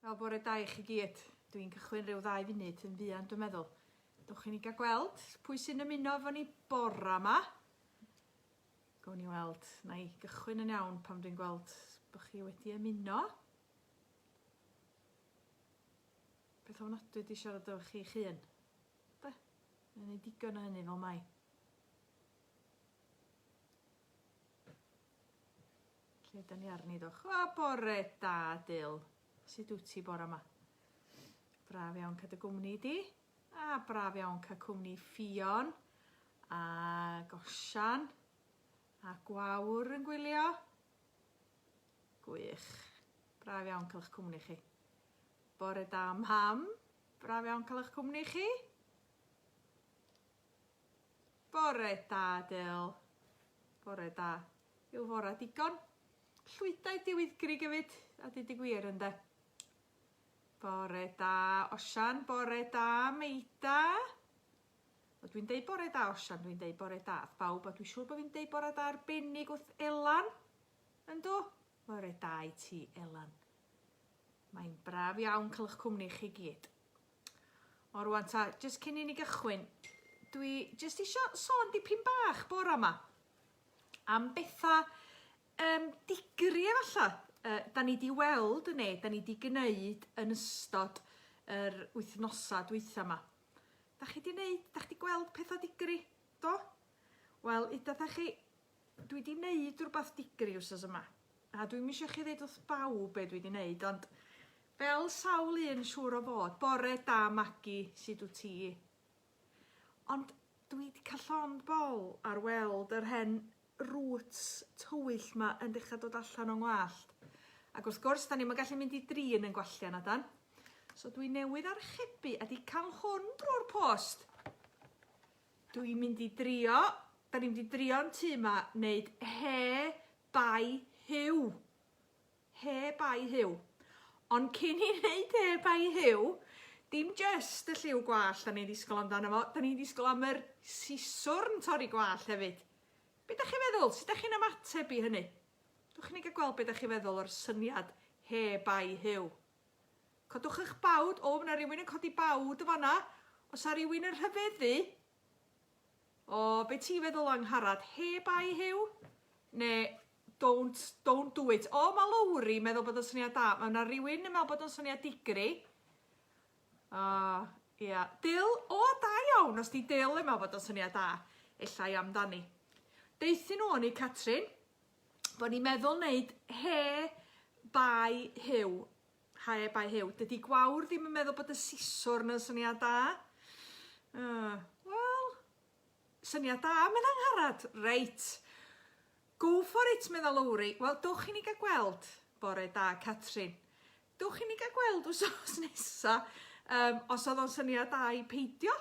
Wel, bore da i chi gyd. Dwi'n cychwyn rhyw ddau funud yn fuan, dwi'n meddwl. Dwch i ni gael gweld pwy sy'n ymuno efo ni bore yma. Gwn ni weld. Na i gychwyn yn iawn pam dwi'n gweld bod chi wedi ymuno. Beth o'n ofnadwy wedi siarad efo chi chi yn. Da? Yn ei digon o hynny fel mai. Lle da ni arni ddoch? O, bore da, Dil. Sut wyt ti bore yma? Braf iawn cael dy gwmni di. A braf iawn cael cwmni Ffion. A Gosian. A Gwawr yn gwylio. Gwych. Braf iawn cael eich cwmni chi. Bore da, Mham. Braf iawn cael eich cwmni chi. Bore da, Dale. Bore da. Yw fora digon? Llwydau di wyddgri gyfyd, a di di gwir ynde? Bore da, Osian. Bore da, Meida. O, dwi'n deud bore da, Osian. Dwi'n deud bore da. Bawb, a dwi'n siŵr bod fi'n deud bore da arbennig wrth Elan. Yndw? Bore da i ti, Elan. Mae'n braf iawn cael eich cwmni chi gyd. O rwan ta, jyst cyn i ni gychwyn, dwi jyst isio sôn dipyn bach bora yma am betha um, digri efalla, uh, da ni di weld yn ne, da ni di gwneud yn ystod yr wythnosau dwytha yma. Da chi di wneud, da chi di gweld pethau digri, do? Wel, ydych chi Dwi 'di neud rwbath digri wsos yma, a dwi'm isio chi ddeud wrth bawb be' dwi 'di neud, ond fel sawl un siŵr o fod, bore da Magi, sud wt ti? Ond dwi 'di ca'l llond bol ar weld yr hen roots tywyll 'ma yn dechra dod allan o'n ngwallt. Ac wrth gwrs, 'dan ni'm yn gallu mynd i dri yn ein gwallt na 'dan? So dwi newydd archebu a 'di ca'l hwn drwy'r post. Dw i'n mynd i drio, da ni'n mynd i drio'n tŷ ma, wneud he bai hiw. He bai hiw. Ond cyn i wneud he bai hiw, dim just y lliw gwallt da ni'n ddisgol amdano fo, da ni'n ddisgol am yr siswrn torri gwallt hefyd. Be da chi'n feddwl? Sut da chi'n ymateb i hynny? Dwch i ni gael gweld be da chi'n feddwl o'r syniad he bai hiw. Codwch eich bawd. O, mae yna rywun yn codi bawd o fanna. Os a rywun yn rhyfeddu. O, be ti'n feddwl o Angharad? Heb ai Huw? Ne, don't, don't do it. O, mae Lowri meddwl bod o'n syniad da. Mae yna rywun yn meddwl bod o'n syniad digri. O, ia. Yeah. Dil, o, da iawn. Os di Dil yn meddwl bod o'n syniad da, efallai amdani. Deithio nhw o'n i, Catrin, bod ni'n meddwl wneud he bai Huw. Hae bai Huw, dydi Gwawr ddim yn meddwl bod y siswrn yn syniad da. Uh, Wel, syniad da, mae'n angharad. Reit. Go for it, meddwl Lowri. Wel, dwch i ni gael gweld. Bore da, Catrin. Dwch i ni gael gweld wsos nesa. Um, os oedd o'n syniad da i peidio,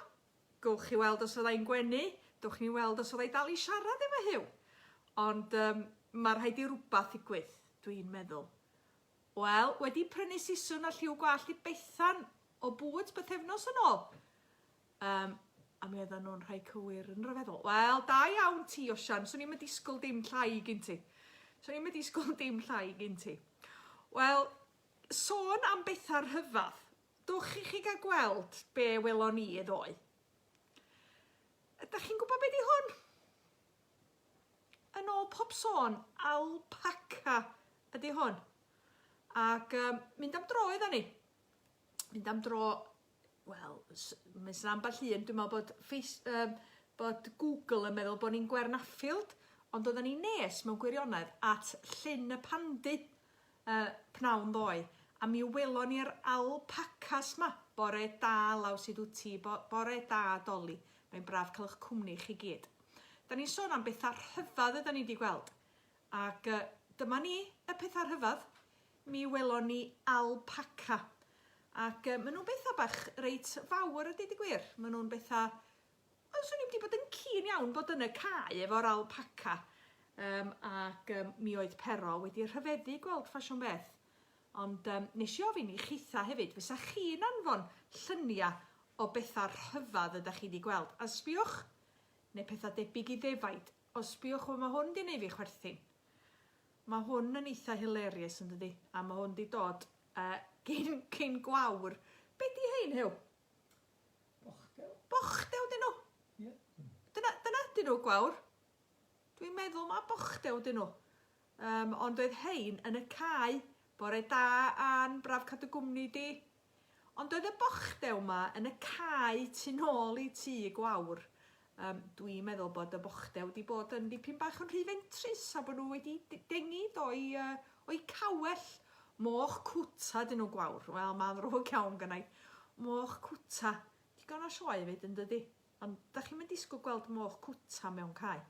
gowch chi weld os fyddai'n gwenu. Dwch ni weld os fyddai dal i siarad efo Huw. Ond um, mae rhaid i rhywbeth ddigwydd, dwi'n meddwl. Wel, wedi prynu siswrn a lliw gwallt i Bethan o Boots bythefnos yn ôl. Um, a mi oedden nhw'n rhai cywir yn rhyfeddol. Wel, da iawn ti, Osian. Swn i'n disgwyl dim llai gyn ti. Swn i'n disgwyl dim llai gyn ti. Wel, sôn am bethau rhyfadd, dwch i chi gael gweld be welon ni ddoe. Ydych chi'n gwybod beth di hwn? Yn ôl pob sôn, alpaca ydy hwn. Ac um, mynd am dro iddo ni. Mynd am dro, wel, mae'n sy'n ambell un, dwi'n meddwl bod, face, um, bod Google yn meddwl bod ni'n Gwern Affield, ond oedden ni nes mewn gwirionedd at Llyn y Pandy. Y pnawn ddoe, a mi welon ni'r alpacas 'ma! Bore da, Law, sud wt ti? Bo bore da, Doli. Mae'n braf cael 'ych cwmni chi gyd. Da ni'n sôn am betha rhyfadd ydan ni 'di gweld. Ac uh, dyma ni, y petha rhyfadd. Mi welon ni alpaca. Ac uh, maen nhw'n betha bach reit fawr ydy di gwir. Maen nhw'n betha Wel, 'swn i wedi bod yn keen iawn bod yn y cae efo'r alpaca, um, ac um, mi oedd Pero wedi rhyfeddu gweld ffasiwn beth. Ond um, nes i ofyn i chitha hefyd, fysa chi'n anfon llynia o bethau rhyfedd ydych chi wedi gweld, a sbiwch, neu pethau debyg i ddefaid, o sbiwch, wel mae hwn wedi gwneud fi chwerthin. Mae hwn yn eitha hilarious yn dydi, a mae hwn wedi dod uh, cyn, cyn gwawr. Be di hein, Hew? Bochdew. Bochdew dyn nhw? Ie. Dyna, dyna dyn nhw, gwawr. Dwi'n meddwl mae bochdew dyn nhw. Um, ond oedd hein yn y cae. Bore da, Ann, braf cadw gwmni di. Ond oedd y bochdew ma yn y cae tu nôl i tŷ gwawr. Yym, dwi'n meddwl bod y bochde wedi bod yn dipyn bach yn rhy fentrus a bod nhw wedi dengid o'i, uh, o'i cawell. Moch cwta dyn nhw gwawr. Wel, mae'n ddrwg iawn gynnau. Moch cwta. Digon o sioe fyd yn dydy. Ond da chi'n mynd disgwyl gweld moch cwta mewn cae.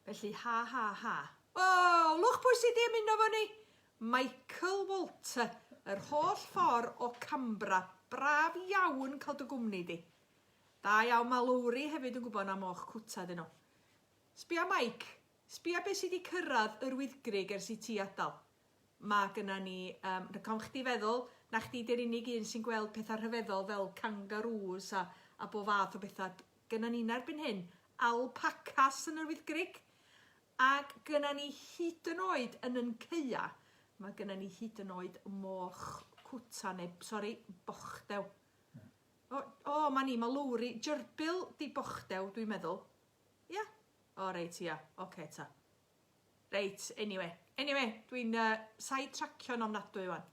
Felly, ha, ha, ha. O, lwch pwy sydd wedi ymuno fo ni? Michael Walter, yr holl ffordd o Cambra. Braf iawn cael dy gwmni di. Da iawn ma Lowri hefyd yn gwbod na moch cwta ydyn nhw. Sbia Mike, sbia be sy di cyrradd yr wyddgrug ers i ti adal. Ma gynna ni um, rhagofn chdi feddwl na chdi di'r unig un sy'n gweld pethau rhyfeddol fel kangaroos a, a bo fath o bethau. Gynna ni erbyn hyn alpacas yn yr wyddgrug ac gynna ni hyd yn oed yn yn ceia mae gynna ni hyd yn oed moch cwta neu sori bochdew. O, o, ma ni, ma Lowri, Jyrbyl di Bochdew, dwi'n meddwl. Ia? O, reit, ia. Oce, ta. Reit, anyway. Anyway, dwi'n uh, side tracio'n ofnadwy wan.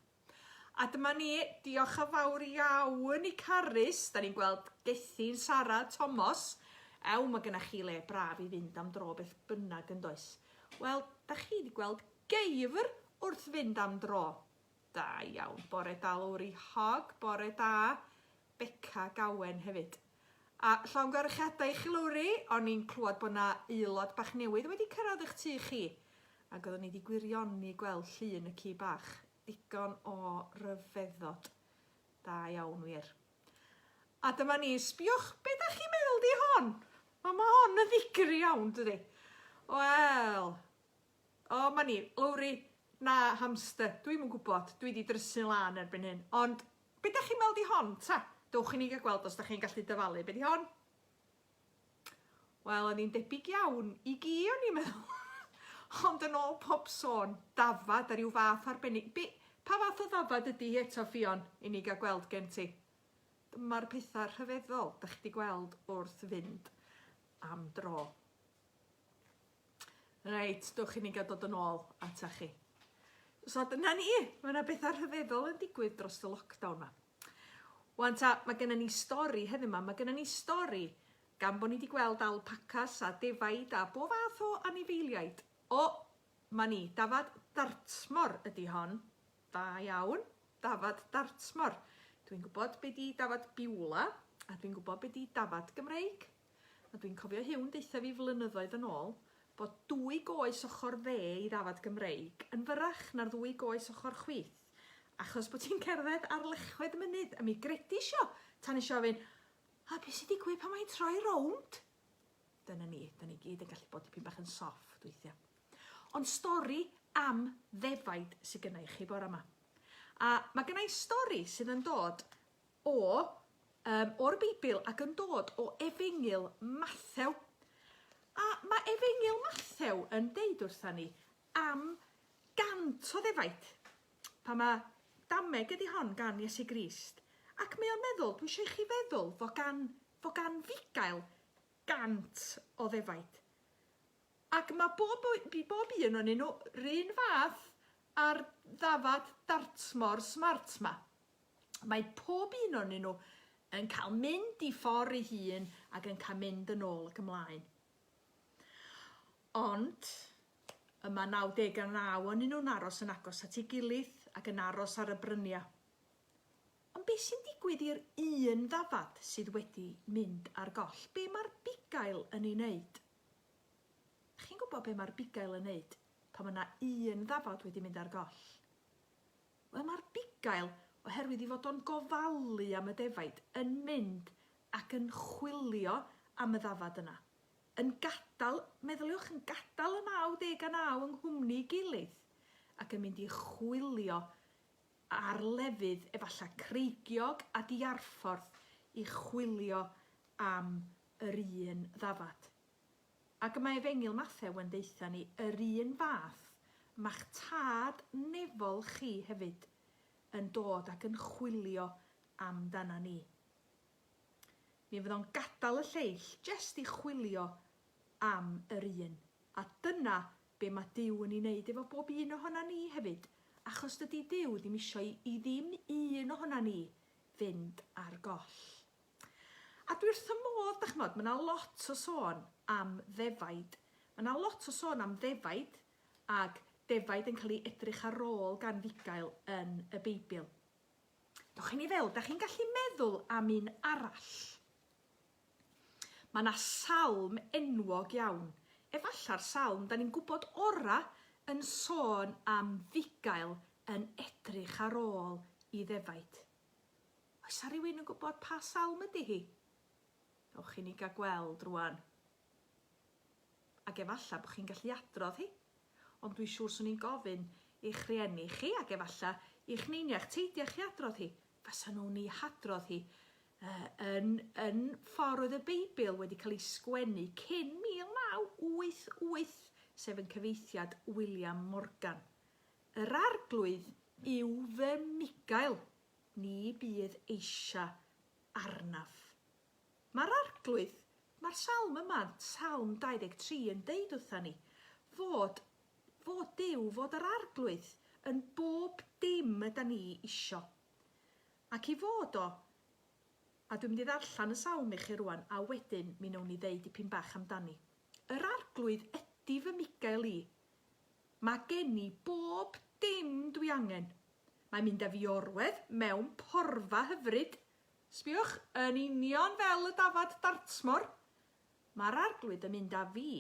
A dyma ni, diolch yn fawr iawn i Carys, da ni'n gweld Gethin, Sara, Tomos. Ew, mae gennych chi le braf i fynd am dro beth bynnag yn does. Wel, da chi wedi gweld geifr wrth fynd am dro. Da iawn. Bore da Lowri Hogg. Bore da Beca Gowen hefyd. A llongyfarchiadau i chi Lowri, o'n i'n clywed bod yna aelod bach newydd wedi cyrraedd eich tu chi, ac oeddwn i wedi gwirioni gweld llun y ci bach. Digon o ryfeddod. Da iawn wir. A dyma ni, sbiwch, be da chi'n meddwl di hon? Mae ma hon yn ddigri iawn, dydy? Wel, O, 'ma ni. Lowri, Na, hamster. Dwi'm yn gwybod. Dwi 'di drysu'n lân erbyn hyn. Ond, be 'dach chi'n weld i hon, ta? Dowch i ni gael gweld os 'dach chi'n gallu dyfalu. Be 'di hon? Wel, o'n i'n debyg iawn i gi, o'n i'n meddwl. Ond yn ôl pob sôn, dafad a rhyw fath arbennig. Be, pa fath o ddafad ydy hi eto, Ffion, i ni gael gweld gen ti? Dyma'r pethau rhyfeddol 'dach chi 'di gweld wrth fynd am dro. Reit, dwch i ni gael dod yn ôl ata chi. So dyna ni, mae yna bethau rhyfeddol yn digwydd dros y lockdown yma. Wan ta, mae gennym ni stori heddiw yma, mae gennym ni stori gan bod ni wedi gweld alpacas a defaid a bob fath o anifeiliaid. O, mae ni, dafad dartmor ydy hon. Da iawn, dafad dartmor. Dwi'n gwybod be di dafad biwla a dwi'n gwybod be di dafad Gymreig. A dwi'n cofio Huw'n deutha fi flynyddoedd yn ôl bod dwy goes ochr dde i ddafad Gymreig yn fyrrach na'r ddwy goes ochr chwith achos bod ti'n cerdded ar lechwedd y mynydd a mi gredis i o tan nes i ofyn a be sy'n digwydd pan mae'n troi rownd? Dyna ni, da ni gyd yn gallu bod dipyn bach yn soft weithiau. Ond stori am ddefaid sydd gynnau chi bore yma. A mae gynnau stori sydd yn dod O, yym, o'r Beibl ac yn dod o Efengyl Mathew. A mae Efengyl Mathew yn deud wrtha ni am gant o ddefaid. Pa mae dameg ydy hon gan Iesu Grist? Ac mae o'n meddwl, dwi eisiau i chi feddwl fo gan, fo gan fugail gant o ddefaid. Ac mae bob, i bob un o'n nhw run fath ar ddafad dartmor smart ma. Mae pob un o'nyn nhw yn cael mynd i ffordd ei hun ac yn cael mynd yn ôl ac ymlaen. Ond, y mae 99 o'nyn nhw'n aros yn agos at ei gilydd ac yn aros ar y bryniau. Ond beth sy'n digwydd i'r un ddafad sydd wedi mynd ar goll? Be mae'r bugail yn ei wneud? Chi'n gwybod be mae'r bugail yn wneud pan mae yna un ddafad wedi mynd ar goll? Wel, mae'r bugail, oherwydd ei fod o'n gofalu am y defaid, yn mynd ac yn chwilio am y ddafad yna. Yn gadael, meddyliwch, yn gadael y 99 yng nghwmni'i gilydd, ac yn mynd i chwilio ar lefydd efallai creigiog a diarffordd i chwilio am yr un ddafad. Ac mae Efengyl Mathew yn deutha ni yr un fath, ma'ch Tad nefol chi hefyd yn dod ac yn chwilio amdana ni. Mi fydd o'n gadal y lleill jest i chwilio am yr un, a dyna be ma Duw yn i neud efo bob un ohona ni hefyd, achos dydi Duw ddim isio i i ddim un ohona ni fynd ar goll. A dwi wrth fy modd, dach ch'mod, ma' 'na lot o sôn am ddefaid. Ma' 'na lot o sôn am ddefaid ag defaid yn cael ei edrych ar ôl gan fugail yn y Beibl. Dewch chi ni feddwl, dach chi'n gallu meddwl am un arall? Ma' 'na salm enwog iawn, efallai'r salm 'dan ni'n gwybod ora' yn sôn am fugail yn edrych ar ôl i ddefaid. Oes 'na rywun yn gwybod pa salm ydy hi? Ewch chi ni gael gweld rwan. Ac efallai bod chi'n gallu adrodd hi. Ond dwi'n siŵr swn i'n gofyn i'ch rhieni chi ac efallai i'ch neiniach teidiau chi adrodd hi. Fasa nhw'n ei hadrodd hi uh, yn, yn ffordd oedd y Beibl wedi cael ei sgwennu cyn 1988, sef yn cyfeithiad William Morgan. Yr Arglwydd yw fy migail, ni bydd eisia arnaf. Mae'r Arglwydd, mae'r salm yma, salm 23, yn deud wrtha ni fod, fod Duw, fod yr Arglwydd yn bob dim yda ni isio. Ac i fod o, a dwi'n mynd i ddarllen y salm i chi rwan, a wedyn mi wnawn ni ddeud dipyn bach amdani. Yr Arglwydd ydi fy migail i, Mae gen i bob dim dwi angen. Mae mynd â fi orwedd mewn porfa hyfryd. Sbïwch, yn union fel y dafad Dartmoor, mae'r Arglwydd yn mynd â fi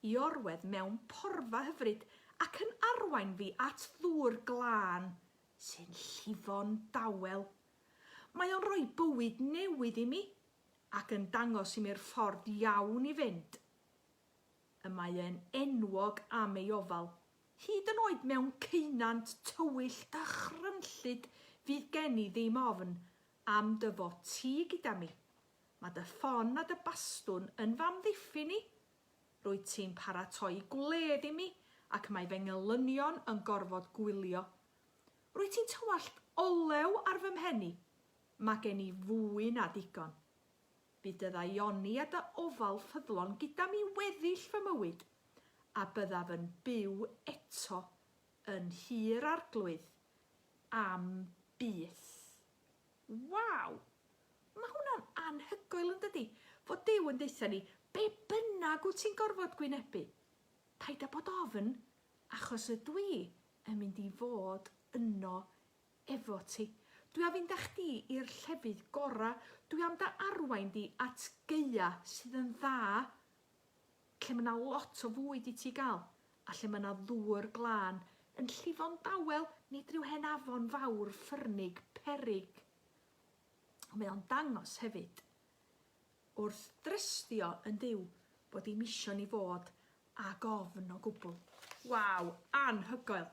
i orwedd mewn porfa hyfryd ac yn arwain fi at ddŵr glân sy'n llifo'n dawel. Mae o'n rhoi bywyd newydd i mi ac yn dangos i mi'r ffordd iawn i fynd. y mae e'n enwog am ei ofal, hyd yn oed mewn ceunant tywyll a chryllid fydd gen i ddim ofn am dy fod ti gyda mi, mae dy ffon a dy bastwn yn fy amddiffyn i, rwyt ti'n paratoi gwledd i mi ac mae fy ngelynion yn gorfod gwylio. Rwyt ti'n tywallt olew ar fy mhen i, mae gen i fwy na digon. Bu dy ddaioni a dy ofal ffyddlon gyda'm i weddill fy mywyd, a byddaf yn byw eto yn Nhŷ'r Arglwydd am byth. Waw! Mae hwnna'n anhygoel yn dydi? Fod Duw yn deutha ni, be bynnag wyt ti'n gorfod gwynebu, paid â bod ofn, achos ydw i yn mynd i fod yno efo ti. Dwi a fynd a chdi i'r llefydd gora, dwi am da arwain di at gaea sydd yn dda, lle ma na lot o fwyd i ti gael, a lle ma na ddŵr glân, yn llifo'n dawel, nid rhyw hen afon fawr ffyrnig, peryg. Mae o'n dangos hefyd, wrth drystio yn Duw, bod dim isio ni fod ag ofn o gwbl. Waw, anhygoel!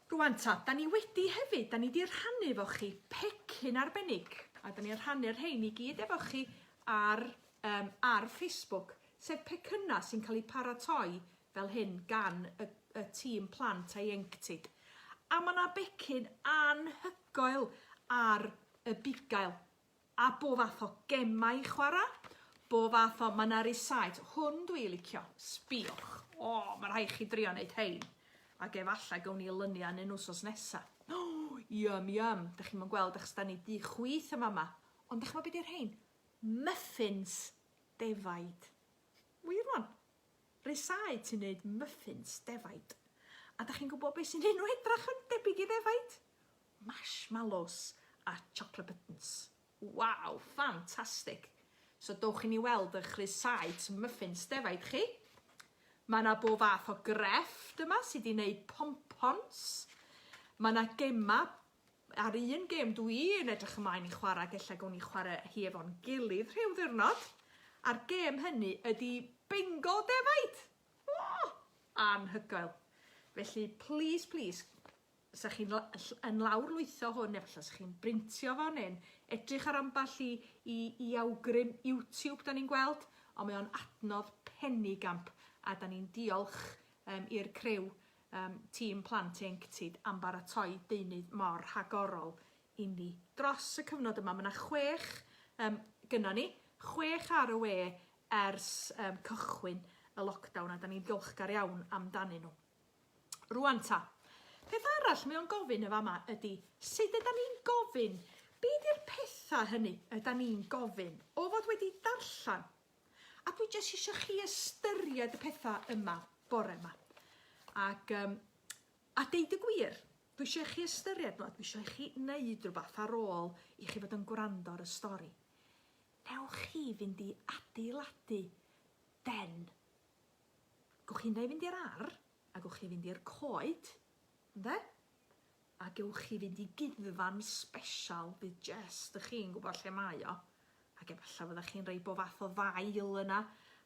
Rŵan ta, da ni wedi hefyd, da ni wedi rhannu efo chi pecyn arbennig, a da ni'n rhannu'r rhain i gyd efo chi ar, um, ar Facebook, sef pecynnau sy'n cael eu paratoi fel hyn gan y, y tîm plant a'i enctid. A mae yna becyn anhygoel ar y bugail. A bo fath o gemau i chwara. Bo fath o, ma na rysáit, hwn dwi licio, sbiwch. O, ma rhai chi drio neud rhein. Ag efallai gawn ni lynu a nyn wsos nesa. O, yum yum, dych chi'm yn gweld achos da ni di chwith yn fama. Ond dych chi'n be di rhein? Muffins defaid. Wir wan. Rysáit sy'n neud muffins defaid. A dych chi'n gwybod beth sy'n un nhw edrach yn debyg i ddefaid? marshmallows a chocolate buttons. Waw, ffantastig! So dowch i ni weld y chrysau to muffins defaid chi. Mae yna bob fath o grefft yma sydd wedi gwneud pompons. Mae yna gemau ar un gem dw i'n edrych ymlaen i chwarae, gella gawn ni chwarae hi efo'n gilydd rhyw ddiwrnod. A'r gem hynny ydy bingo defaid! Oh, anhygoel! Felly, please, please, 'sa chi'n yn lawrlwytho hwn efallai 'sa chi'n brintio fo neu'n edrych ar ambell i, i, i awgrym YouTube da ni'n gweld, ond mae o'n adnodd penny gamp a da ni'n diolch um, i'r crew um, tîm plant ieuenctid am baratoi deunydd mor rhagorol inni. Dros y cyfnod yma mae yna chwech um, gyno ni, chwech ar y we ers um, cychwyn y lockdown a da ni'n ddiolchgar iawn amdanyn nhw. Rwan ta. Peth arall mae o'n gofyn y fama ydy, sut yda ni'n gofyn? Be di'r petha hynny yda ni'n gofyn? O fod wedi darllen. A dwi jyst eisiau chi ystyried y petha yma bore yma. Ac, um, a deud y gwir, dwi eisiau chi ystyried nhw, dwi eisiau chi wneud rhywbeth ar ôl i chi fod yn gwrando ar y stori. Newch chi fynd i adeiladu den Gewch chi ynde fynd i'r ar, a gewch chi fynd i'r coed, ynde? A gewch chi fynd i guddfan sbesial bydd jest dych chi'n gwybod lle mae o, ac efallai fyddech chi'n rhoi bo fath o ddail yna,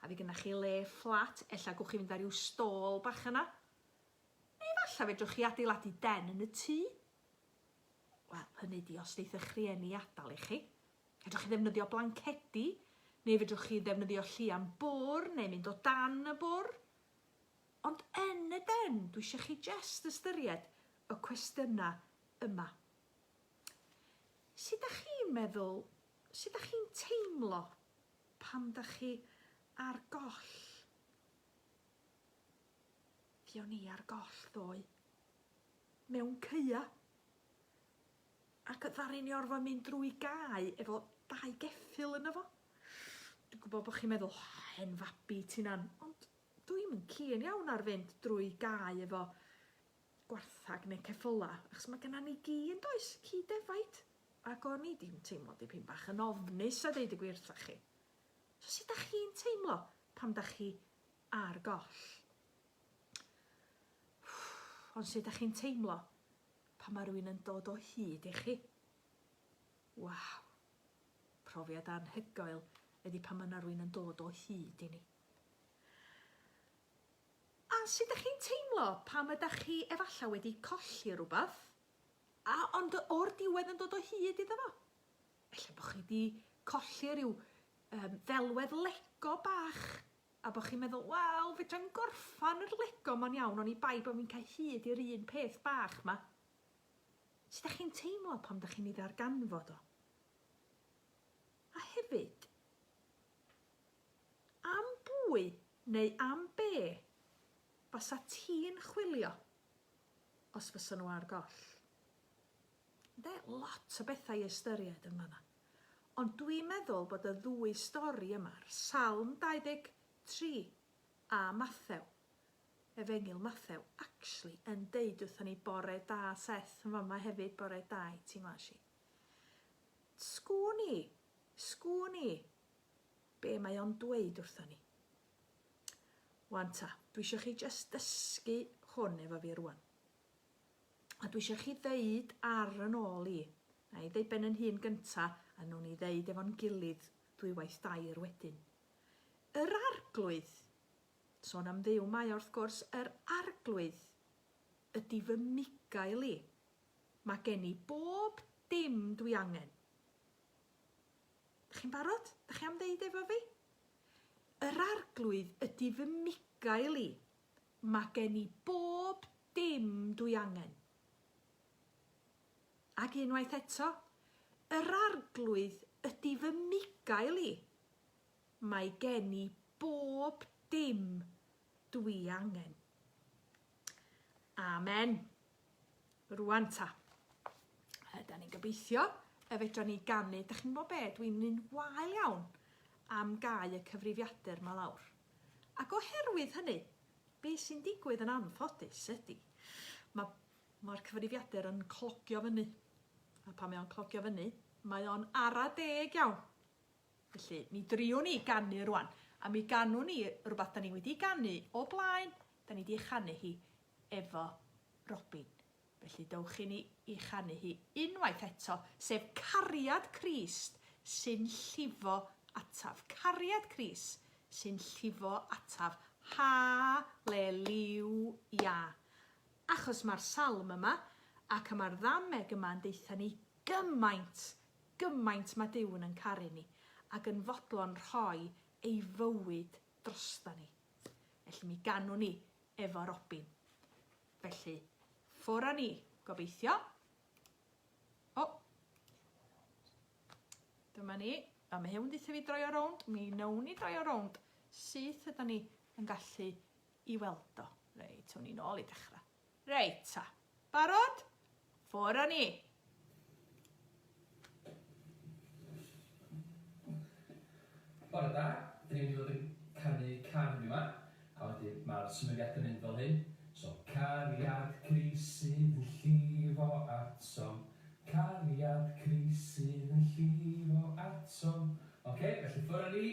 a fydd gennych chi le fflat, ella gwch chi fynd ar ryw stôl bach yna. Neu efallai fedrwch chi adeiladu den yn y tŷ. Wel, hynny di, os wneith'ch rhieni adael i chi, Fedrwch chi ddefnyddio blancedi, neu fedrwch chi ddefnyddio llian bwr neu mynd o dan y bwr. Ond yn y den, dwi eisiau chi jest ystyried y cwestiynau yma. Sut da chi'n meddwl, sut da chi'n teimlo pan da chi ar goll? Fi o'n i ar goll ddoe. Mewn ceua. Ac ddaru ni orfod mynd drwy gae efo dau geffyl yno fo. Dwi'n gwybod bod chi'n meddwl, oh, hen fabi ti'n an, ond dwi'm yn keen iawn ar fynd drwy gae efo gwarthag neu ceffyla, achos mae genna ni gi yn does, ci defaid, ac o'n i di'n teimlo dipyn bach yn ofnus a deud y gwir wrthoch chi. So sut da chi'n teimlo pam da chi ar goll? Ond sut da chi'n teimlo Pan mae rhywun yn dod o hyd i chi. Waw! Profiad anhygoel ydi pan mae yna rhywun yn dod o hyd i ni. A sut ydych chi'n teimlo pam ydych chi efallai wedi colli rhywbeth, a ond o'r diwedd yn dod o hyd iddo fo? Efallai bod chi wedi colli rhyw um, ddelwedd lego bach A bo chi'n meddwl, wel, fedrai'm gorffan yr Lego ma'n iawn oni bai bo fi'n cau hyd i'r un peth bach 'ma. Sut dach chi'n teimlo pan dach chi'n ei ddarganfod o? A hefyd, am bwy neu am be fasa ti'n chwilio os fysa nhw ar goll? Ynde, lot o bethau i ystyried yn fan'na. Ond dwi'n meddwl bod y ddwy stori yma, Salm 23 a Mathew, Efengyl Mathew, actually yn deud wrthon ni bore da Seth yn fama hefyd, bore da i ti Nglashi. Sgwn i, sgwn i be mae o'n dweud wrthon ni. Wan ta, dwi eisiau chi just dysgu hwn efo fi rwan. A dwi eisiau chi ddeud ar yn ôl i. Na i ddeud ben yn hun gynta, a newn ni ddeud efo'n gilydd ddwywaith dair wedyn. Yr Arglwydd! Sôn am Dduw mae o wrth gwrs, yr Arglwydd ydy fy migael i. Mae gen i bob dim dwi angen. Da chi'n barod? Da chi am ddeud efo fi? Yr Arglwydd ydy fy migael i. Mae gen i bob dim dwi angen. Ac unwaith eto, yr Arglwydd ydy fy migael i. Mae gen i bob dim dwi angen. Amen. Rwan ta. Yda ni'n gobeithio y fedra ni ganu. Da chi'n gwybod be? Dwi'n un wael iawn am gau y cyfrifiadur ma lawr. Ac oherwydd hynny, be sy'n digwydd yn anffodus ydy, ma' ma'r cyfrifiadur yn clogio fyny, a pan mae o'n clogio fyny, mae o'n ara deg iawn. Felly, mi driwn ni ganu rwan, a mi ganwn ni rhywbeth da ni wedi ganu o blaen, da ni wedi ei chanu hi efo Robin. Felly dowch i ni i chanu hi unwaith eto, sef Cariad Crist sy'n llifo ataf. Cariad Crist sy'n llifo ataf. Haleliwia! Achos mae'r salm yma ac y mae'r ddameg yma yn deutha ni gymaint, gymaint mae Duw yn yn caru ni ac yn fodlon rhoi ei fywyd drosta ni. Felly mi ganwn ni efo Robin. Felly, ffwr a ni, gobeithio. O! Dyma ni. A mae hwn ddeitha fi droi o rownd. Mi wnawn ni droi o rownd syth yda ni yn gallu i weld o. Reit, hwn i'n ôl i dechrau. Reit, ta. Barod? Ffwr a ni! Bore da, dyn ni mynd i fod yn canu can yn yma, a wedyn ma'r symudiad yn mynd fel hyn, so Cariad Crisyn yn llifo atom, Cariad Crisyn yn llifo atom, ok, felly ffwr a ni!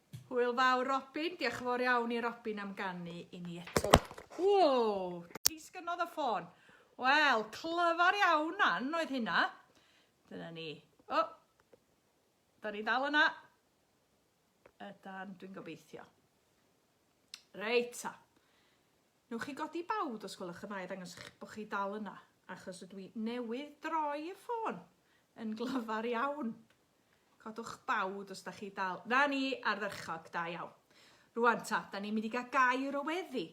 Hwyl fawr Robin, diolch yn fawr iawn i Robin am ganu i ni eto. Wow, disgynnodd y ffôn. Wel, clyfar iawn nan oedd hynna. Dyna ni. O, oh, da ni dal yna. Ydan, dwi'n gobeithio. Reit ta. Nwch chi godi bawd os gwelwch yn dda i ddangos bod chi dal yna, achos ydw i newydd droi y ffôn yn glyfar iawn. Codwch bawd os da chi dal. Na ni, ardderchog, da iawn. Rwan ta, da ni'n mynd i gael gair o weddi.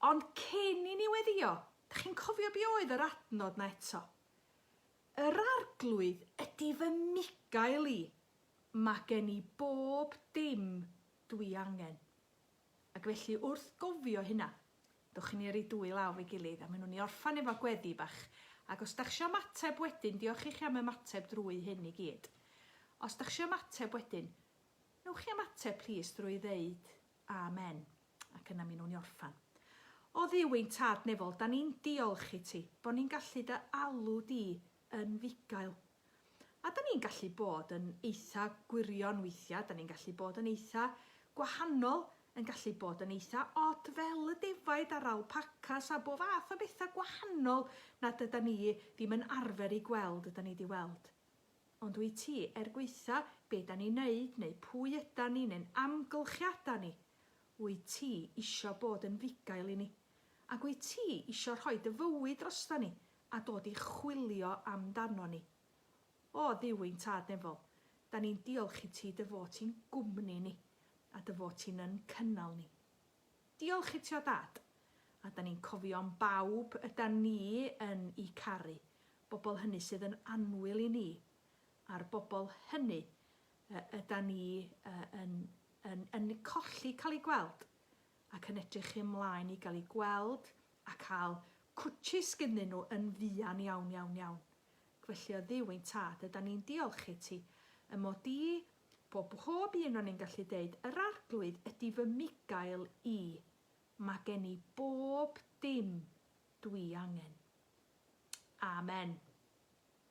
Ond cyn i ni weddio, da chi'n cofio be oedd yr adnod na eto? Yr arglwydd ydy fy migael i. Mae gen i bob dim dwi angen. Ac felly wrth gofio hynna, Dowch i ni yrru dwy law efo'i gilydd a mynwn i orffan efo gweddi bach, ac os dach isio ymateb wedyn, diolch i chi am ymateb drwy hyn i gyd. Os dach isio ymateb wedyn, newch chi ymateb plîs drwy ddeud Amen, ac yna mi nown ni orffan. O Dduw ein Tad Nefol, da ni'n diolch i ti, bo ni'n gallu dy alw di yn fugail. A 'dan ni'n gallu bod yn eitha gwirion weithiau, 'dan ni'n gallu bod yn eitha gwahanol, yn gallu bod yn eitha od fel y defaid a'r alpacas a bo fath o bethau gwahanol nad ydan ni ddim yn arfer i gweld ydan ni 'di weld. Ond wyt ti, er gweitha be 'dan ni'n neud neu pwy ydan ni neu'n amgylchiada ni, wyt ti isio bod yn fugail i ni? Ac wyt ti isio rhoi dy fywyd droston ni a dod i chwilio amdanon ni. O, Dduw ein Tad Nefol, da ni'n diolch i ti dy fod ti'n gwmni ni, a dy fod ti'n yn cynnal ni. Diolch i ti o Dad, a da ni'n cofio am bawb yda ni yn i caru, bobl hynny sydd yn annwyl i ni, a'r bobl hynny y yda ni y yn yn yn colli cael eu gweld, ac yn edrych ymlaen i gael eu gweld a cael cwtshys gynnyn nhw yn fuan iawn iawn iawn. Ac felly o Dduw ein Tad, ydan ni'n diolch i ti, y mod i, bo bhob un o ni'n gallu deud, yr Arglwydd ydi fy mugail i, ma gen i bob dim dwi angen. Amen.